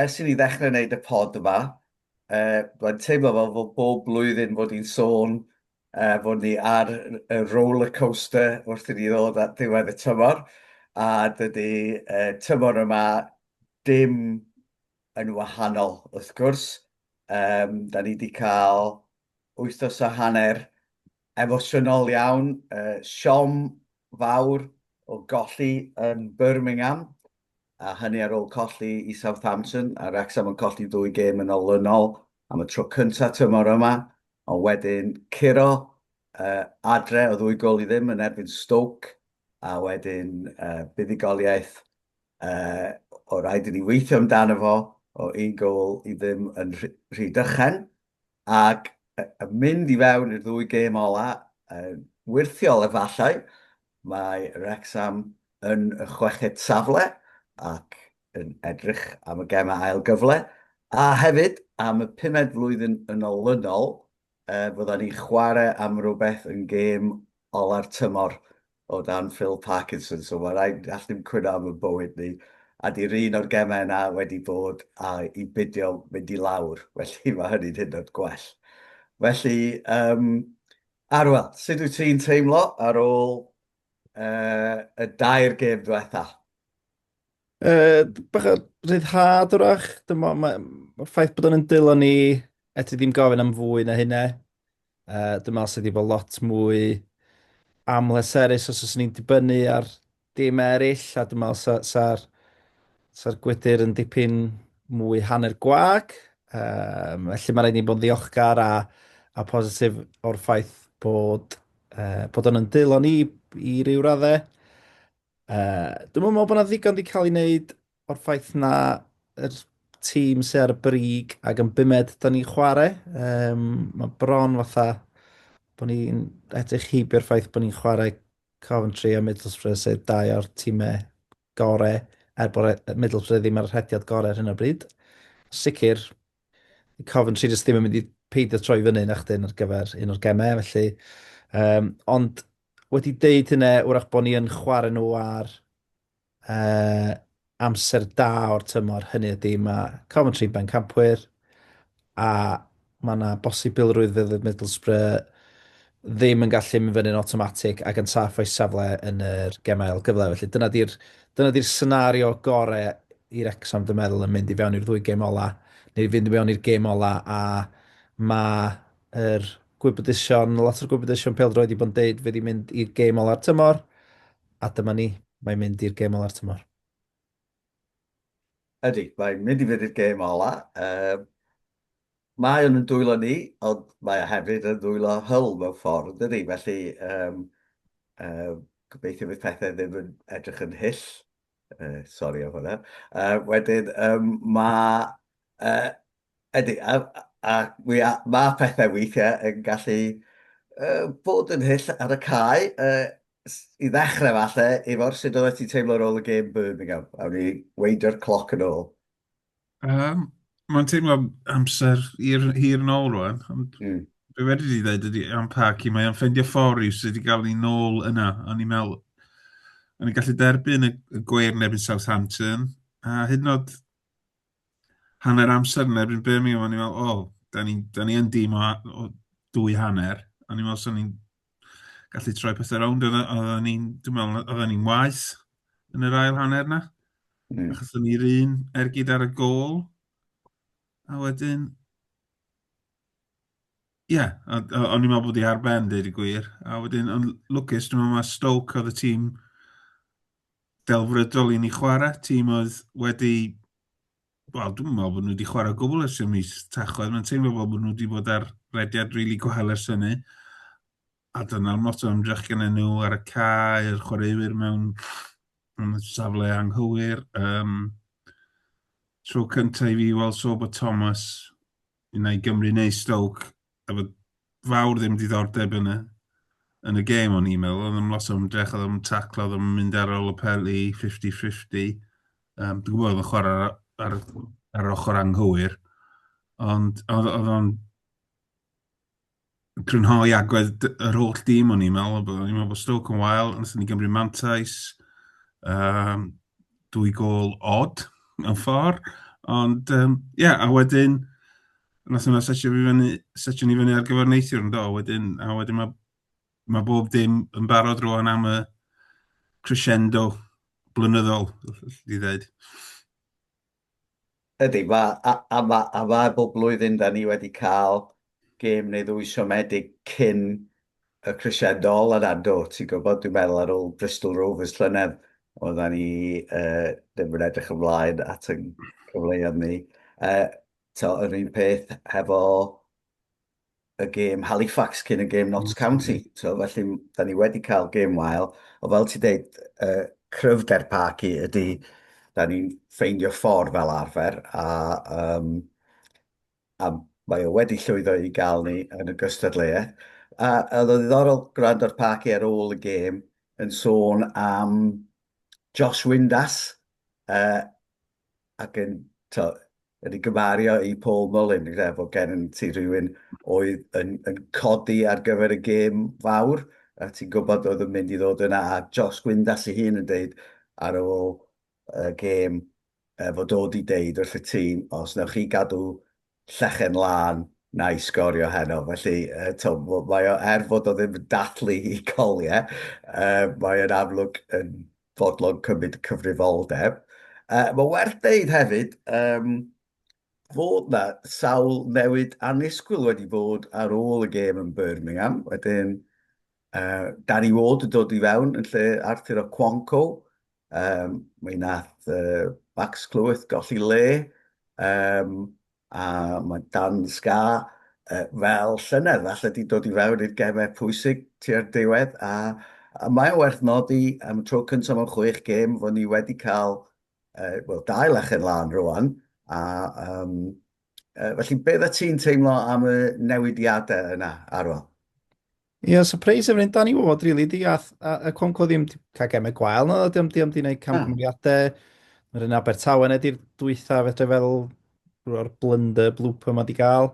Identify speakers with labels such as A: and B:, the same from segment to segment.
A: Ers i ni ddechrau wneud y pod yma, mae'n teimlo fel fod bob blwyddyn fod ni'n sôn fod ni ar y rollercoaster wrth i ni ddod at ddiwedd y tymor, a dydy tymor yma dim yn wahanol wrth gwrs. Da ni 'di cael wythnos a hanner emosiynol iawn, siom fawr o golli yn Birmingham, a hynny ar ôl colli i Southampton, a Wrecsam yn colli ddwy gêm yn olynol am y tro cyntaf tymor yma, ond wedyn curo adre o ddwy gôl i ddim yn erbyn Stoke, a wedyn buddugoliaeth oedd rhaid i ni weithio amdano fo o un gôl i ddim yn Rhydychen. Ac yn mynd i fewn i'r ddwy gêm ola, yn wyrthiol efallai, mae Wrecsam yn y chweched safle ac yn edrych am y gemau ail gyfle, a hefyd am y pumed flwyddyn yn olynol fyddan ni'n chwarae am rywbeth yn gêm ola'r tymor O dan Phil Parkinson, so mae rhaid i allan cwyno am y bywyd ni. A di'r un o'r gemau yna wedi bod a i bidio mynd i lawr, felly mae hynny'n hyd yn oed gwell. Felly, um, Arwel, sut wyt ti'n teimlo ar ôl uh, y dair gêm diwetha? Uh,
B: bach o rhyddhad wrach, dyma, mae, mae ffaith bod o'n yn dilo ni, eto ddim gofyn am fwy na hynna. Uh, dwi'n meddwl sydd wedi bod lot mwy amleserus os oes ni'n dibynnu ar dim eraill, a dwi'n meddwl sa'r sa, sa, sa gwydr yn dipyn mwy hanner gwag. Um, felly mae rhaid ni bod yn ddiolchgar a, a positif o'r ffaith bod, uh, bod yn yn dylon i, i ryw raddau. Uh, dwi'n meddwl bod yna ddigon wedi cael ei wneud o'r ffaith na yr tîm sy'n ar y brig ac yn bumed da ni'n chwarae. Um, mae bron fatha bod ni'n edrych heibio'r ffaith bod ni'n chwarae Coventry a Middlesbrough sydd dau o'r tîmau gore er bod e- Middlesbrough ddim ar y rhediad gore ar hyn o bryd. Sicr, Coventry jyst ddim yn mynd i peidio troi fyny na chdi ar gyfer un o'r gemau, felly... Um, ond wedi deud hynna, wrach bod ni yn chwarae nhw ar uh, amser da o'r tymor, hynny ydy mae Coventry ben campwyr a mae yna bosibilrwydd fydd Middlesbrough ddim yn gallu mynd fyny'n automatic ac yn saff o'i safle yn yr gemau ail gyfle. Felly dyna di'r dyna di'r senario gore i Wrexham dwi'n meddwl yn mynd i fewn i'r ddwy gêm ola neu i fynd i fewn i'r gêm ola a mae yr er gwybodaethon, lot o'r gwybodaethon peldroed wedi bod yn deud fydd i'n mynd i'r gêm ola'r tymor A dyma ni, mae'n mynd i'r gêm ola'r tymor.
A: Ydy, mae'n mynd i fynd i'r gêm ola. Um, mae o'n yn dwylo ni, ond mae o hefyd yn dwylo Hull mewn ffordd, dydy? Felly, um, um, gobeithio fydd pethau ddim yn edrych yn hyll. Uh, sorry am hwnna. Uh, wedyn, um, mae uh, Ydy, a, a, a mae pethau weithiau yn gallu uh, bod yn hyll ar y cae. Uh, I ddechrau falle, efo'r sut oeddet ti'n teimlo ar ôl y gêm Birmingham? Awn ni weidio'r cloc yn ôl. Um,
C: Mae'n teimlo amser hir, hir yn ôl rwan. Ond mm. Be wedi di ddweud ydy am Parky, mae o'n ffendio ffordd i'w sydd wedi cael ni nôl yna. O'n i'n meddwl, o'n i'n gallu derbyn y, y gweir yn ebyn Southampton, a hyd yn oed hanner amser yn erbyn Birmingham, o'n i'n meddwl, o, oh, da ni, da ni yn dim o, o dwy hanner, o'n i'n meddwl swn ni'n gallu troi pethau rownd, oedden ni'n, dwi'n meddwl, oedden ni'n waith yn yr ail hanner na, mm. achos o'n ni'r un ergyd ar y gol, a wedyn, ie, yeah, o'n i'n meddwl bod i ar ben, dweud y gwir, a wedyn, ond lwcus, dwi'n meddwl mae Stoke oedd y tîm delfrydol i ni chwarae, tîm oedd wedi... Wel, dwi'n meddwl bod nhw wedi chwarae gwbl ers y mis Tachwedd, mae'n teimlo fel bod nhw wedi bod ar rediad rili really gwael ers hynny. A dyna'r lot o ymdrech gen nhw ar y cae, yr chwaraewyr mewn yn y safle anghywir. Um, tro cyntaf i fi weld so bod Thomas Unai Gymru neu Stoke, efo fawr ddim diddordeb yn y, yn y gêm o'n i'n meddwl, oedd yn lot o ymdrech, oedd yn taclo, oedd yn mynd ar ôl y peli 50-50. Um, dwi'n gwybod oedd yn chwarae ar, ar, ar ochr anghywir, ond oedd o'n crynhoi agwedd yr holl dîm o'n i'n meddwl, o'n i'n meddwl bod Stoke yn wael, ond ni'n gymryd mantais, um, dwy gol odd yn ffordd, ond ie, um, yeah, a wedyn, nath hwnna setio fi fyny, setio ni fyny ar gyfer neithiwr yn do, wedyn, a wedyn mae ma bob dim yn barod rwan am y crescendo blynyddol, i ddweud.
A: Ydy, mae, a, a, ma, a mae bob blwyddyn da ni wedi cael gêm neu ddwy siomedig cyn y crisiadol yn ado, ti'n gwybod, dwi'n meddwl ar ôl Bristol Rovers llynedd, oedda ni uh, ddim yn edrych ymlaen at y cyfleoedd ni. Uh, to, yr un peth hefo y gêm Halifax cyn y gêm Notts County. So, felly, da ni wedi cael gêm wael, o fel ti dweud, uh, cryfder parc i ydy, da ni'n ffeindio ffordd fel arfer, a, um, a mae o wedi llwyddo i gael ni yn y gystadleuaeth. A oedd o ddiddorol gwrando'r parc i ar ôl y gêm yn sôn am Josh Windass, uh, ac yn, tibod, yn ei gymaru i Paul Mullin, gyda bod gen ti rhywun oedd yn, yn codi ar gyfer y gêm fawr, a ti'n gwybod oedd yn mynd i ddod yna, a Josh Gwyndas ei hun yn dweud ar ôl y gêm e, fod o wedi deud wrth y tîm, os newch chi gadw llechen lân na'i sgorio heno. Felly, uh, to, mae o, er fod o ddim yn dathlu i coliau, uh, mae o'n amlwg yn fodlon cymryd cyfrifoldeb. Uh, mae werth dweud hefyd, um, fod na sawl newid annisgwyl wedi bod ar ôl y gêm yn Birmingham. Wedyn, Uh, Danny Ward yn dod i fewn yn lle Arthur o Quanco. Um, mae nath uh, Max Clyweth golli le. Um, a mae Dan Sga uh, fel llynedd, falle di dod i fewn i'r gemau pwysig tua'r diwedd. A, a mae'n werth nodi am y tro cyntaf mewn chwech gêm fod ni wedi cael uh, well, dau lechen lan rwan. A um, uh, felly, beth y ti'n teimlo am y newidiadau yna, Arwel? Ie, yeah,
B: surprise efo'r hyn, Dani, fod rili di, a, a, a Conco ddim di cael gemau gwael, no, di am di am di wneud camgymeriadau, mae'r un Abertawe yna di'r dwytha, fedra fel rhoi'r blunder, blooper mae di gael.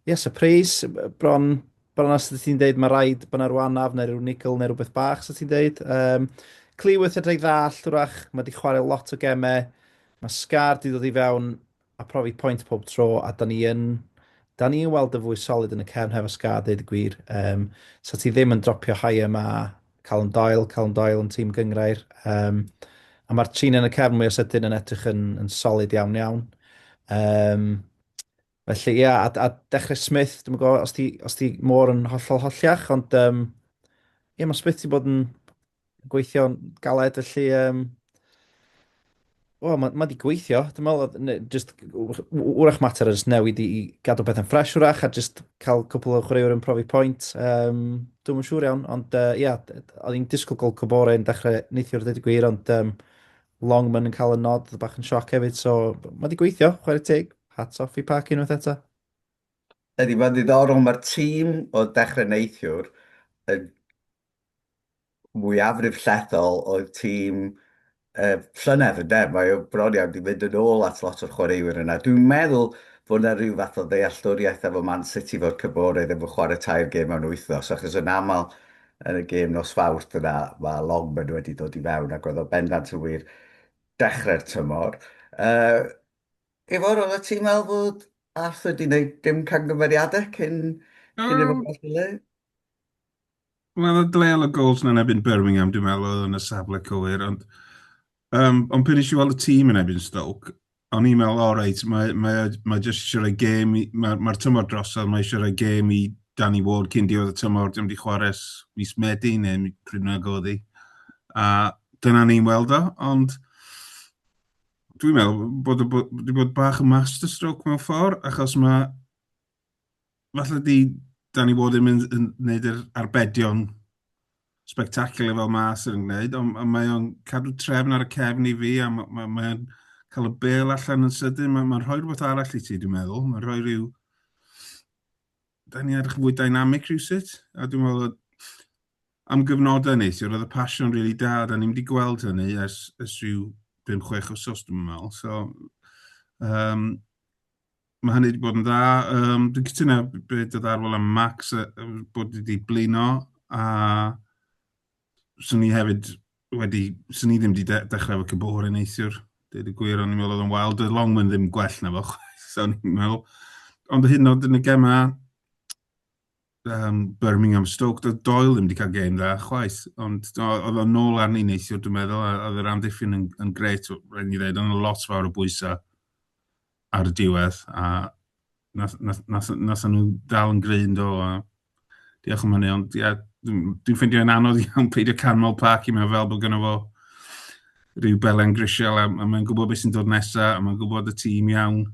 B: Ie, yeah, surprise, bron, bron os ydy ti'n deud mae rhaid bod yna rhyw anaf neu rhyw nigl neu rhywbeth bach, so ti'n deud. Um, Cleworth edrych ddall, wrach, mae di chwarae lot o gemau, mae Scar di dod i fewn a profi point pob tro a da ni yn da ni yn weld yn fwy solid yn y cefn hefo Ska deud y gwir um, so ti ddim yn dropio high yma Callum Doyle, Callum Doyle yn tîm gyngrair um, a mae'r trin yn y cefn mwy o sydyn yn edrych yn, yn solid iawn iawn um, felly ia a, a dechrau Smith dwi'n gwybod os ti, os ti mor yn hollol holliach ond um, ia mae Smith wedi bod yn gweithio'n galed, felly... Um, Wel, mae ma wedi gweithio, dwi'n meddwl, just, wrach mater o just newid i, i gadw beth yn ffres wrach, a just cael cwpl o chwaraewr yn profi pwynt. Um, dwi'n yn siŵr iawn, ond uh, ia, oedd hi'n disgwyl gol cybore yn dechrau neithiwr dweud y gwir, ond um, Longman yn cael y nod, oedd bach yn sioc hefyd, so mae wedi gweithio, chwarae teg, hats off i Park unwaith eto. Ydy,
A: mae'n ddiddorol, mae'r tîm o dechrau neithiwr yn mwyafrif llethol oedd tîm y llynedd ynde, mae o bron iawn wedi mynd yn ôl at lot o'r chwaraewyr yna. Dwi'n meddwl fod yna rhyw fath o ddealltwriaeth efo Man City fod Cymoraidd efo chwarae tair gêm mewn wythnos, achos yn aml yn y gêm nos Fawrth yna mae Longman wedi dod i fewn ac oedd o bendant yn wir dechrau'r tymor. Uh, Ifor, oedd y ti'n meddwl fod Arthur wedi gwneud dim camgymeriadau cyn, cyn um, i'r bobl
C: Wel, oedd Dale o Gols yn enebyn Birmingham, dwi'n meddwl, oedd yn y safle cywir, ond, um, ond pan eisiau weld y tîm yn enebyn Stoke, o'n i'n meddwl, o reit, mae, mae, mae jyst eisiau rhoi gêm, mae'r mae tymor drosodd, mae eisiau rhoi gêm i Danny Ward cyn diwedd y tymor, dim wedi chwarae mis Medi neu pryd nag oedd hi. A dyna ni'n weld o, ond dwi'n meddwl bod wedi bod bach yn masterstroke mewn ffordd, achos mae falle 'di Danny Ward ddim yn yn wneud yr arbedion spectacular fel mae Arsenal yn gwneud, ond ond mae o'n cadw trefn ar y cefn i fi, a ma' ma' mae o'n cael y bel allan yn sydyn, mae'n ma' rhoi rhywbeth arall i ti, dwi'n meddwl. Mae'n rhoi rhyw... Da ni'n edrych yn fwy dynamic rhywsut, a dwi'n meddwl bod am gyfnodau neithiwr, oedd y passion rili really da, da ni'n wedi gweld hynny ers, ers rhyw 5-6 wsos, dwi'n meddwl. So, um, Mae hynny wedi bod yn dda. Um, dwi'n cytuno beth oedd arfol am Max uh, bod wedi blino a swn ni hefyd wedi, swn ni ddim wedi de dechrau efo Cybor yn eisiwr. Dwi'n y gwir, ond i'n meddwl oedd yn wael, doedd Longman ddim gwell na fo, so ni'n meddwl. Ond hyn oed yn y gemau, um, Birmingham Stoke, doedd Doyle ddim wedi cael gêm dda chwaith, ond oedd o'n nôl arni neithiwr dwi'n meddwl, a oedd yr amddiffyn yn, yn gret, rhaid ni ddweud, ond lot fawr o bwysau ar y diwedd, a nath, nath, nath, nath nhw dal yn gryn do, a diolch am hynny, ond ia, dwi'n ffeindio yn anodd iawn peidio canmol parc i mewn fel bod gynnaf fo rhyw belen grisial, a, a mae'n gwybod beth sy'n dod nesaf, a mae'n gwybod y tîm iawn,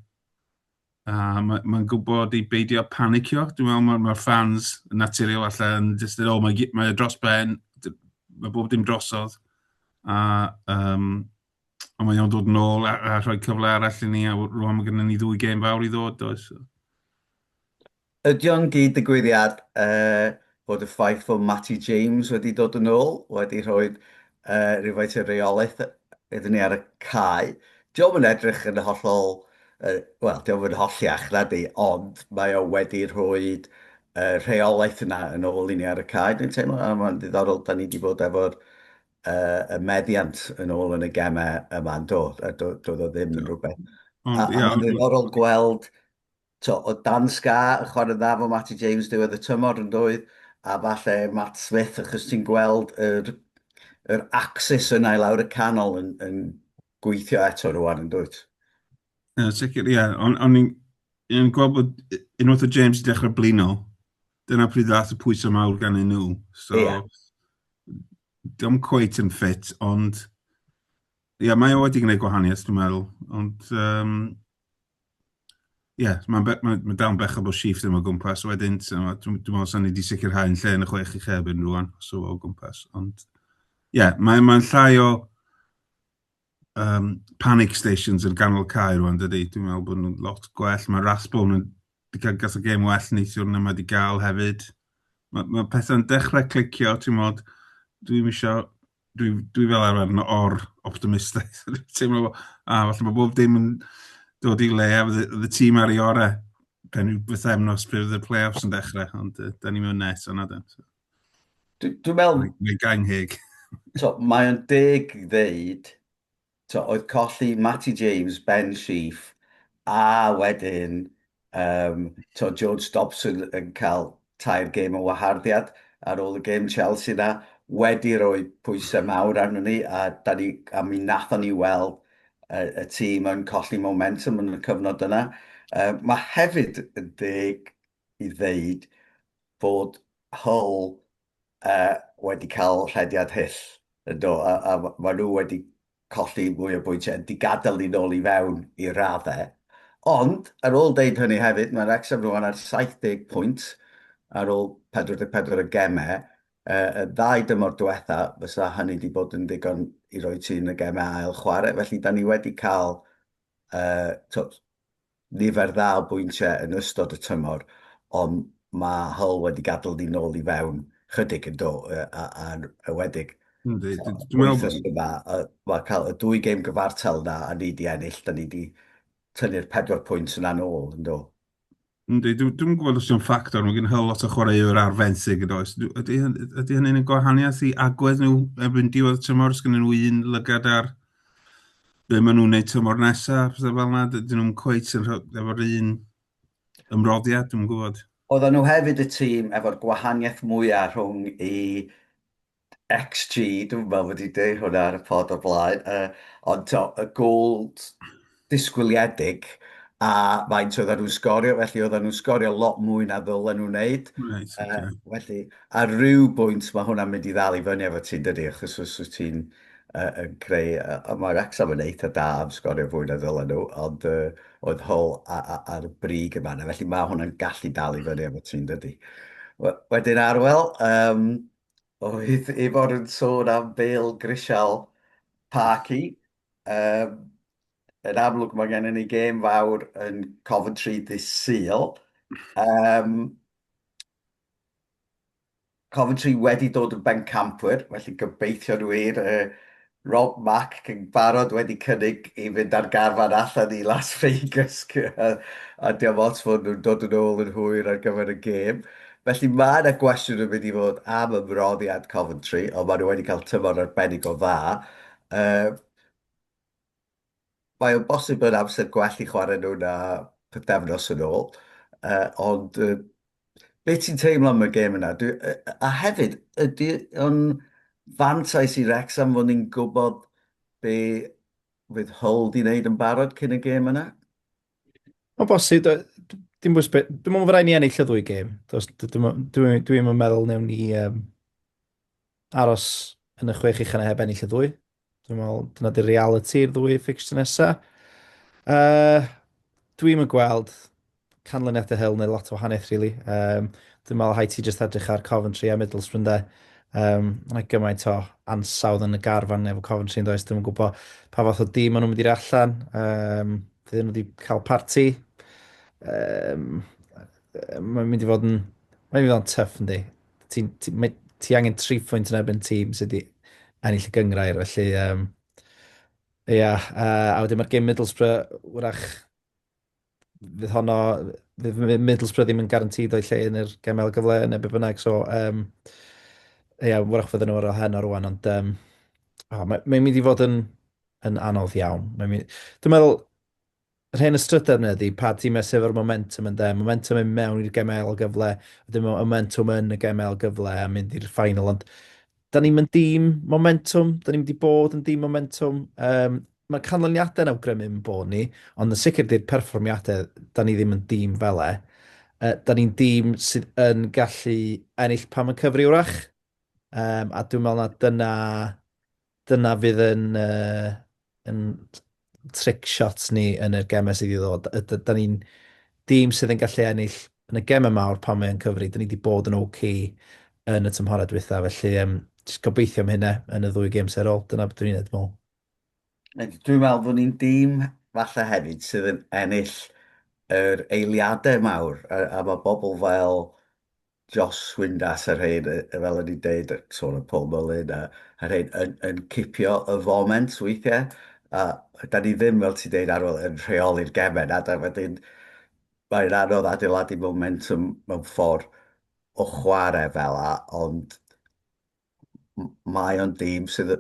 C: A mae'n ma gwybod i beidio panicio. Dwi'n meddwl mae'r ma fans yn naturiol allan, jyst yn, o, mae, mae e dros ben, mae bob dim drosodd. A, um, a mae o'n dod yn ôl a, a rhoi cyfle arall i ni, a rwan mae gennym ni ddwy gêm fawr i ddod, does? Ydy
A: o'n gyd-ddigwyddiad bod y ffaith fod Matty James wedi dod yn ôl wedi rhoi rhywfaint o reolaeth iddyn ni ar y cae? Dio'm yn edrych yn hollol, wel, dio'm yn holliach, nadi, ond mae o wedi rhoi y rheolaeth yna yn ôl i ni ar y cae, dwi'n teimlo, a mae'n ddiddorol, da ni wedi bod efo'r y meddiant yn ôl yn y gemau yma, yn do, a doedd o ddim yn rhywbeth. A mae'n ddiddorol gweld Tibod, oedd Dan Scarr yn chwarae'n dda efo Matty James diwedd y tymor, yn doedd? A falle Matt Smith, achos ti'n gweld yr, yr axis yna i lawr y canol yn, yn gweithio eto rwan, yn dwyt? Ie, yeah, sicr,
C: ie. Yeah. Ond on, on i'n gweld bod unwaith o James i dechrau blino, dyna pryd ddath y pwysau mawr gan ei nhw. So, yeah. Dom cweit yn ffit, ond... Ie, yeah, mae o wedi gwneud gwahaniaeth, dwi'n meddwl. Ond, um, Ie, mae'n be- mae mae dawn bechod o shift yma o gwmpas wedyn, so ma' dwi dwi me'wl sa'n ni 'di sicirhau'n lle yn y chwech i chefn rŵan, so o gwmpas, ond ie, mae mae'n llai o yym panic stations yn ganol cae rŵan dydi? Dwi'n me'wl bo' nw'n lot gwell, ma' Rathbone yn 'di ca'l ga'th y gêm well neithiwr na ma' 'di ga'l hefyd. Ma' ma' pethe'n dechre clicio t'mod, dwi'm isio dwi, dwi fel arfer yn or optimistaidd. Dwi'n teimlo, a ah, falle mae bob dim yn dod i le a fydd y tîm ar ei orau pen yw byth emnos pe fydd y play-offs yn dechrau, ond uh, da ni mewn nes yna. Dwi'n meddwl...
A: Mae gang heg.
C: so, mae o'n
A: deg ddeud Tibod, oedd colli Matty James, Ben Sheaf, a wedyn um, tibod, George Dobson yn cael tair gêm o waharddiad ar ôl y gêm Chelsea na, wedi rhoi pwysau mawr arno ni, a, da ni, a mi nathon ni weld y, y tîm yn colli momentum yn y cyfnod yna. Uh, mae hefyd yn deg i ddeud bod Hull uh, wedi cael rhediad hyll, ynddo, a, a maen nhw wedi colli mwy o bwyntiau yn digadael ni'n ôl i fewn i raddau. Ond, ar ôl deud hynny hefyd, mae Wrexham rwan ar 70 pwynt ar ôl 44 y gemau. Uh, y ddau dymor diwetha, fysa hynny wedi bod yn ddigon i roi ti yn y gemau ail chwarae. Felly, da ni wedi cael uh, nifer dda o bwyntiau yn ystod y tymor, ond mae Hull wedi gadael ni nôl i fewn chydig yn do, a'n ewedig. Yndi, dwi'n meddwl... Mae cael y dwy gêm gyfartal yna a ni wedi ennill, da ni wedi tynnu'r pedwar pwynt yna'n ôl, yn do. Yndi, dwi'm
C: yn gwybod os yw'n ffactor, mae gen Hull lot o chwaraewr ar fenthyg yn does. Ydy hynny'n gwahaniaeth i agwedd nhw erbyn diwedd y tymor, os gennyn nhw un lygad ar be maen nhw'n neud tymor nesaf, pethau fel yna, dyn nhw'n cweit yn rhywbeth efo'r un ymroddiad, dwi'n gwybod. Oedden nhw hefyd y
A: tîm efo'r gwahaniaeth mwyaf rhwng i XG, dwi'n meddwl wedi dweud hwnna ar y pod o'r blaen, uh, ond to, y goals disgwyliedig a faint oedden nhw'n sgorio, felly oedden nhw'n sgorio lot mwy na ddylen nhw'n wneud. Right, okay. uh, felly, ar ryw bwynt mae hwnna'n mynd i ddal i fyny efo ti'n dydy, achos os wyt ti'n uh, yn creu, uh, mae Wrexham yn eitha da am sgorio fwy na ddylen nhw, ond uh, oedd hol ar y brig yma yna, felly mae hwnna'n gallu dal i fyny efo ti'n dydy. Wedyn arwel, um, oedd Ifor yn sôn am Bale Grisial Parky, Yym, yn amlwg mae gennym ni gêm fawr yn Coventry ddydd Sul. Yym, Coventry wedi dod yn bencampwyr, felly gobeithion wir. Yy, Rob Mack yn barod wedi cynnig i fynd ar garfan allan i Las Vegas a diolch ots fod nhw'n dod yn ôl yn hwyr ar gyfer y gêm. Felly mae yna gwestiwn yn mynd i fod am ymroddiad Coventry, ond maen nhw wedi cael tymor arbennig o dda. Mae o'n bosib bod amser gwell i chwarae nhw na pythefnos yn ôl, ond be ti'n teimlo am y gêm yna? A hefyd, ydy o'n fantais i Wrecsam fod ni'n gwybod be fydd Hull 'di wneud yn barod cyn y gêm yna? Mae'n
B: bosib, dim bwys beth, dwi'n meddwl fod rhaid ni ennill y ddwy gêm. Dwi'n meddwl newn ni... aros yn y chwech uchel a heb ennill y ddwy. Dwi'n meddwl, dyna di reality i'r ddwy fixture nesa. Uh, Dwi'n yn gweld canlyniad y hel neu lot o wahaniaeth, really. Um, dwi'n meddwl hai ti jyst edrych ar Coventry a Middlesbrough, de. Um, Mae gymaint o ansawdd yn y garfan efo Coventry yn does. Dwi'n gwybod pa fath o dim maen nhw'n mynd i'r allan. Um, Fydd nhw wedi cael parti. Um, mae'n mynd i fod yn... Mae'n mynd i fod yn tuff, yndi. ti, ti, mae, ti angen tri phwynt yn erbyn tîm sydd wedi ennill y gyngrair, felly um, Ie, yeah, uh, a wedyn mae'r gym Middlesbrough, wrach, fydd honno, fydd Middlesbrough ddim yn garantid o'i lle yn yr gemau gyfle neu be bynnag, so, um, ie, yeah, wrach fydden nhw ar ôl hen o'r rwan, ond um, oh, mae'n mae mynd i fod yn, yn anodd iawn. Mae mynd, dwi'n meddwl, Yr hen ystrydedd yna ydi, pa timau sydd efo'r momentum ynde, momentum yn mewn i'r gemau ail gyfle, wedyn mae momentum yn y gemau ail gyfle a mynd i'r ffainal, ond da ni'n mynd dîm momentum, da ni'n mynd i bod yn dîm momentum, um, mae canlyniadau'n awgrymu yn bod ni, ond yn sicr di'r perfformiadau, da ni ddim yn dîm fel e. Uh, da ni'n dîm sydd yn gallu ennill pam yn cyfri wrach, um, a dwi'n meddwl na dyna Dyna fydd yn yn trick shot ni yn y gemau sydd i ddod. Da ni'n dîm sydd yn gallu ennill yn y gemau mawr pan mae'n cyfri. Da ni wedi bod yn OK yn y tymhorau diwetha, felly um, just gobeithio am hynna yn y ddwy gêm serol. Dyna beth dwi'n ei meddwl.
A: Dwi'n meddwl bod ni'n dîm falle hefyd sydd yn ennill yr eiliadau mawr a, a mae bobl fel Jos Windass a rhein, fel o'n i'n deud, sôn am Paul Mullin a rhein, yn cipio y foment weithiau. A da ni ddim, fel ti'n deud Arwel, yn rheoli'r gemau na, da wedyn mae'n anodd adeiladu momentum mewn ffordd o chwarae fel a, ond mae o'n dîm sydd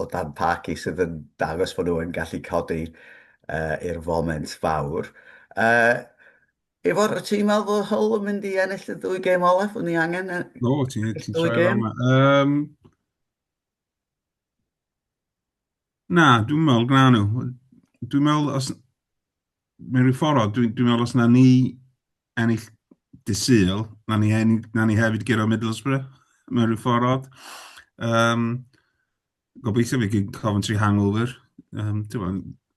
A: o dan Paki sydd yn dangos bod nhw'n gallu codi uh, i'r foment fawr. Uh, Ifor, wyt ti'n meddwl bod Hull yn mynd i ennill y ddwy gêm olaf? Wyt ni angen y no, ti, ti ddwy gêm?
C: Um, na, dwi'n meddwl gna nhw. Dwi'n meddwl, os, mewn rhyw ffordd o, dwi'n dwi meddwl os na ni ennill dy syl, na ni, hen, na ni hefyd gyrraedd Middlesbrough mewn rhyw ffordd odd. Um, gobeithio fi gyd Coventry hangover. Um,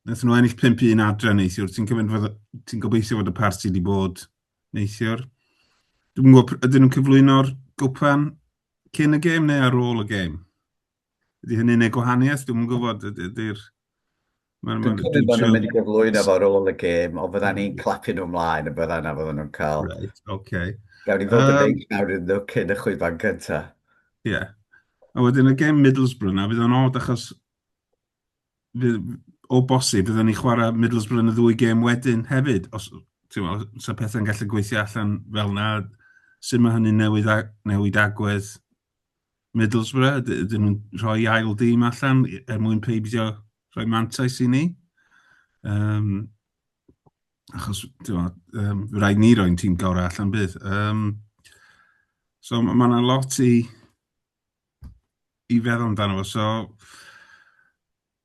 C: Wnaethon nhw ennill 5-1 adre neithiwr. Ti'n ti gobeithio fod y parti wedi bod neithiwr. Dwi'n gwybod, ydyn nhw'n cyflwyno'r gwpan cyn y gêm neu ar ôl y gêm? Ydy hynny'n gwneud gwahaniaeth? Dwi'm yn gwybod. Ydy'r... Dwi'n
A: cymryd bod nhw'n mynd i gyflwyno fo ar ôl y gêm, ond fyddan ni'n clapio nhw ymlaen yn byddan a fyddan nhw'n cael... Reit, oce.
C: Gawn ni fod yn neis
A: nawr iddyn nhw cyn y chwiban cyntaf. Ie.
C: A wedyn y gêm Middlesbrough na, fydd o'n od achos o bosib fyddan ni'n chwarae Middlesbrough yn y ddwy gêm wedyn hefyd, os ti'n meddwl, sa pethau'n gallu gweithio allan fel na, sut mae hynny'n newid agwedd Middlesbrough, dyn nhw'n rhoi ail dîm allan er mwyn peidio rhoi mantais i ni. Um, achos, ti'n um, rhaid ni roi'n tîm gorau allan bydd. Um, so, mae yna lot i, i feddwl amdano fo. So,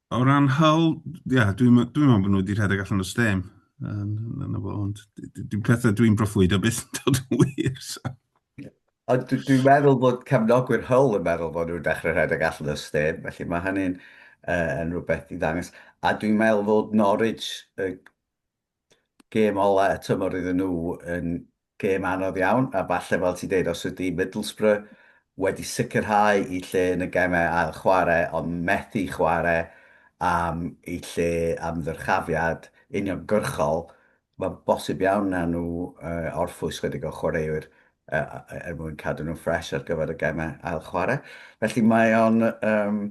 C: O ran Hull, ia, dwi'n me- dwi'n meddwl bod nhw wedi rhedeg allan o stêm. Yn, yn y fo, ond d- d- dwi'n pethau dwi'n broffwyd o beth yn dod yn wir. So. Ond dw-
A: dwi'n meddwl bod cefnogwyr Hull yn meddwl bod nhw'n dechrau rhedeg allan o stêm, felly mae hynny'n uh, yn rhywbeth i ddangos. A dwi'n meddwl fod Norwich uh, Gêm ola y tymor iddyn nhw yn gêm anodd iawn a falle fel ti'n deud os ydy Middlesbrough wedi sicrhau eu lle yn y gemau ail chwarae ond methu chwarae am eu lle am ddyrchafiad uniongyrchol mae'n bosib iawn wnawn nhw orffwys 'chydig o chwaraewyr er mwyn cadw nhw'n ffres ar gyfer y gemau ail chwarae. Felly mae o'n um,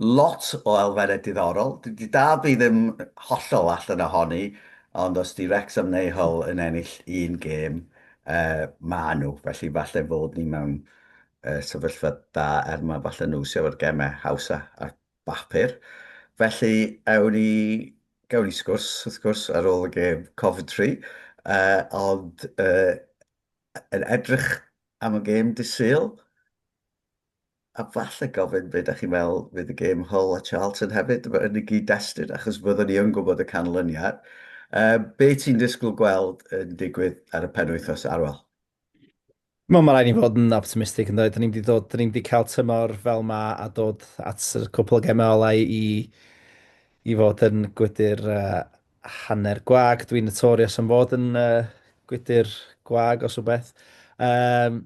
A: lot o elfennau diddorol. Di dal fi ddim hollol allan ohoni, ond os di Wrexham neu Hull yn ennill un gêm, uh, mae nhw. Felly falle fod ni mewn uh, sefyllfa da er mae falle nhw sydd efo'r gemau hawsa ar bapur. Felly ewn ni, gawn ni sgwrs wrth gwrs ar ôl y gêm Coventry, uh, ond uh, yn edrych am y gêm dydd Sul, a falle gofyn be dach chi'n meddwl fydd y gêm Hull a Charlton hefyd, yn y gyd-destun, achos fyddwn ni yn gwybod y canlyniad. Be ti'n disgwyl gweld yn digwydd ar y penwythnos, Arwel?
B: Wel, mae rhaid ni fod yn optimistig, yndoedd. Da ni'n mynd i ddod, da ni'n mynd i cael tymor fel ma a dod at y cwpl o gemau olau i, i fod yn gwydr uh, hanner gwag. Dwi'n notorious am fod yn uh, gwydr gwag os o beth. Um,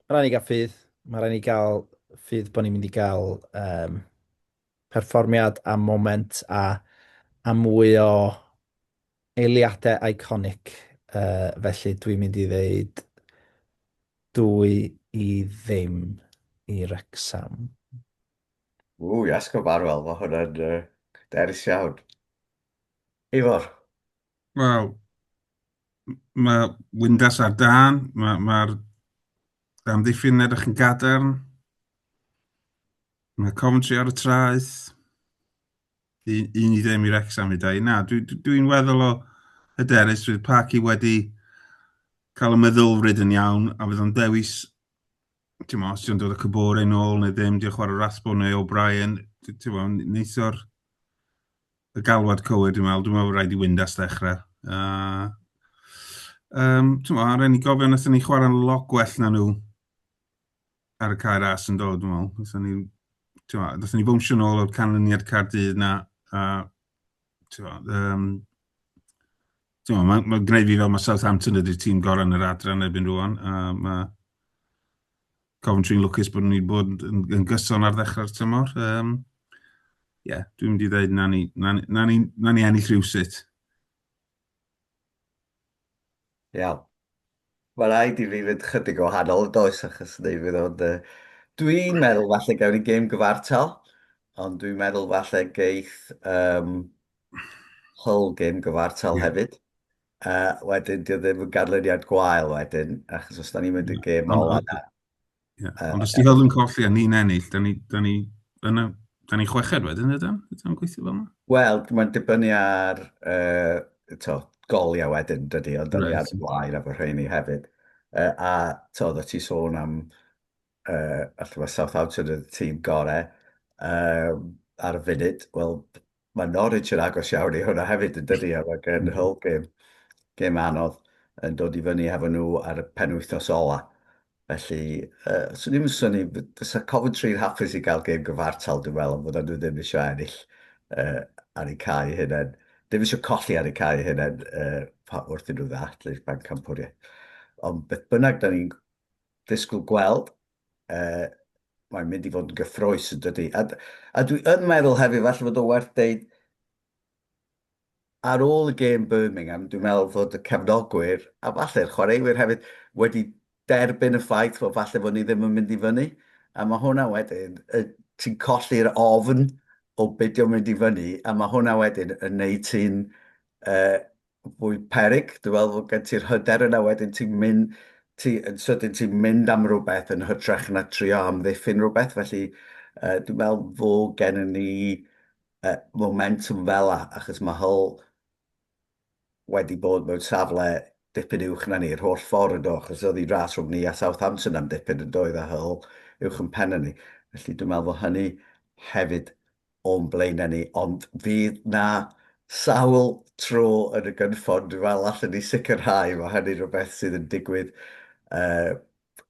B: mae rhaid i gael ffydd. Mae rhaid i gael ffydd bod ni'n mynd i gael um, perfformiad a moment a, a mwy o eiliadau iconic. Uh, felly dwi'n mynd i ddeud dwy i ddim i Rexham.
A: Ww, iasg o Barwel, mae hwnna'n uh, derys iawn. Ifor?
C: Wel, mae Windas ar dan, mae'r ma, ma amddiffyn edrych yn gadarn, mae Coventry ar y traeth, un, un i ddim i'r exam i dau. Na, dwi'n dwi, dwi weddol o hyderus, bydd Parky wedi cael y meddylfryd yn iawn, a bydd o'n dewis ti'n mo, os ti'n dod y cybore yn ôl neu ddim, diolch chwarae Rasbo neu O'Brien, ti'n mo, neithiwr y galwad cywir, dwi'n meddwl, dwi'n meddwl rhaid i Windas ddechrau. Uh, um, ti'n meddwl, rhaid ni gofio nes ni chwarae lot gwell na nhw ar y cair as yn dod, dwi'n meddwl. Nes ni, ti'n meddwl, nes ni bwmsio nôl o'r canlyniad Cardydd na, a, ti'n meddwl, um, Mae'n ma, ma gwneud fi fel mae Southampton ydy'r tîm gorau yn yr adran erbyn rwan. A mae Coventry'n lwcus bod nhw'n bod yn, yn gyson ar ddechrau'r tymor. Um, yeah, dwi'n mynd i ddweud na ni, na, na ni, na ni ennill rhywsut.
A: Iawn. Mae'n rhaid i fi fynd chydig o hanol yn does, achos neu fydd o'n... yy, Dwi'n meddwl falle gawn ni gêm gyfartal, ond dwi'n meddwl falle geith um, Hull gêm gyfartal Ie. hefyd. Uh, wedyn, dio ddim yn ganlyniad gwael wedyn, achos os da ni'n mynd i'r gêm Ond- ola na, Ie. Uh, Ond os
C: ti'n fel yn colli a ni'n ennill, da ni, da ni, da ni, da ni chweched wedyn, ydyn? Ydyn gweithio fel yna? Wel, mae'n dibynnu
A: ar uh, to, goliau wedyn, dydy, ond da ni ar blaen efo rheini hefyd. Uh, a to, da ti sôn am, uh, allai fod Southampton yn y tîm gorau uh, ar y funud, wel, Mae Norwich yn agos iawn i hwnna hefyd yn dydi, a mae gen Hull gêm, gêm anodd yn dod i fyny hefo nhw ar y penwythnos ola. Felly, uh, swn i'n syni, fysa Coventry yn hapus i gael gêm gyfartal, dwi'n meddwl, fod nhw ddim eisiau ennill uh, ar eu cael eu hunain. Ddim eisiau colli ar eu cael eu hunain uh, wrth iddyn nhw ddathlu'r bancampwriaeth. Ond beth bynnag, da ni'n ddisgwyl gweld uh, mae'n mynd i fod yn gyffroes yn dydy. A, a dwi yn meddwl hefyd, falle fod o werth deud, ar ôl y gêm Birmingham, dwi'n meddwl fod y cefnogwyr, a falle'r chwaraewyr hefyd, wedi derbyn y ffaith fod falle fod ni ddim yn mynd i fyny. A mae hwnna wedyn, ti'n colli'r ofn o beidio mynd i fyny, a mae hwnna wedyn yn neud ti'n uh, fwy peryg, dwi'n meddwl fod gen ti'r hyder yna wedyn ti'n mynd, ti, yn sydyn ti'n mynd am rhywbeth yn hytrach na trio amddiffyn rhywbeth, felly uh, dwi'n meddwl fod gen ni uh, momentum fel a, achos mae Hull wedi bod mewn safle dipyn uwch na ni, yr holl ffordd yn do, achos oedd hi ras rhwng ni a Southampton am dipyn yn doedd a Hull uwch yn pen ni. Felly dwi'n meddwl fod hynny hefyd o'n blaenau ni, ond fydd 'na sawl tro yn y gynffon, dwi'n meddwl, allen ni sicrhau, mae hynny'n rhywbeth sydd yn digwydd uh,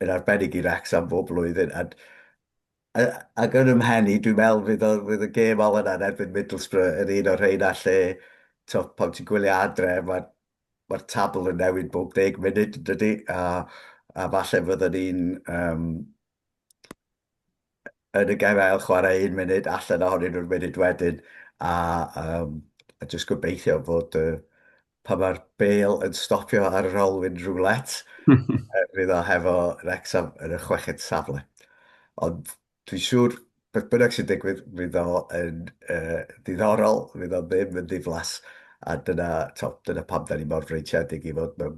A: yn arbennig i Wrecsam bob blwyddyn, a ac yn ymhen i, dwi'n meddwl fydd, o, fydd y gêm olaf yna yn erbyn Middlesbrough yn un o'r rheina lle, to, pan ti'n gwylio adre, mae'r ma tabl yn newid bob deg munud, dydy, a, a falle fyddwn ni'n um, yn y gem ail chwarae un munud allan ohonyn nhw'r munud wedyn a, um, a jyst gobeithio bod uh, pan mae'r bel yn stopio ar yr olwyn rwlet fydd o hefo Wrexham yn y chweched safle ond dwi'n siŵr beth bynnag sy'n digwydd fydd o yn uh, ddiddorol fydd o ddim yn ddiflas a dyna, to, dyna pam da ni mor freintiedig i fod mewn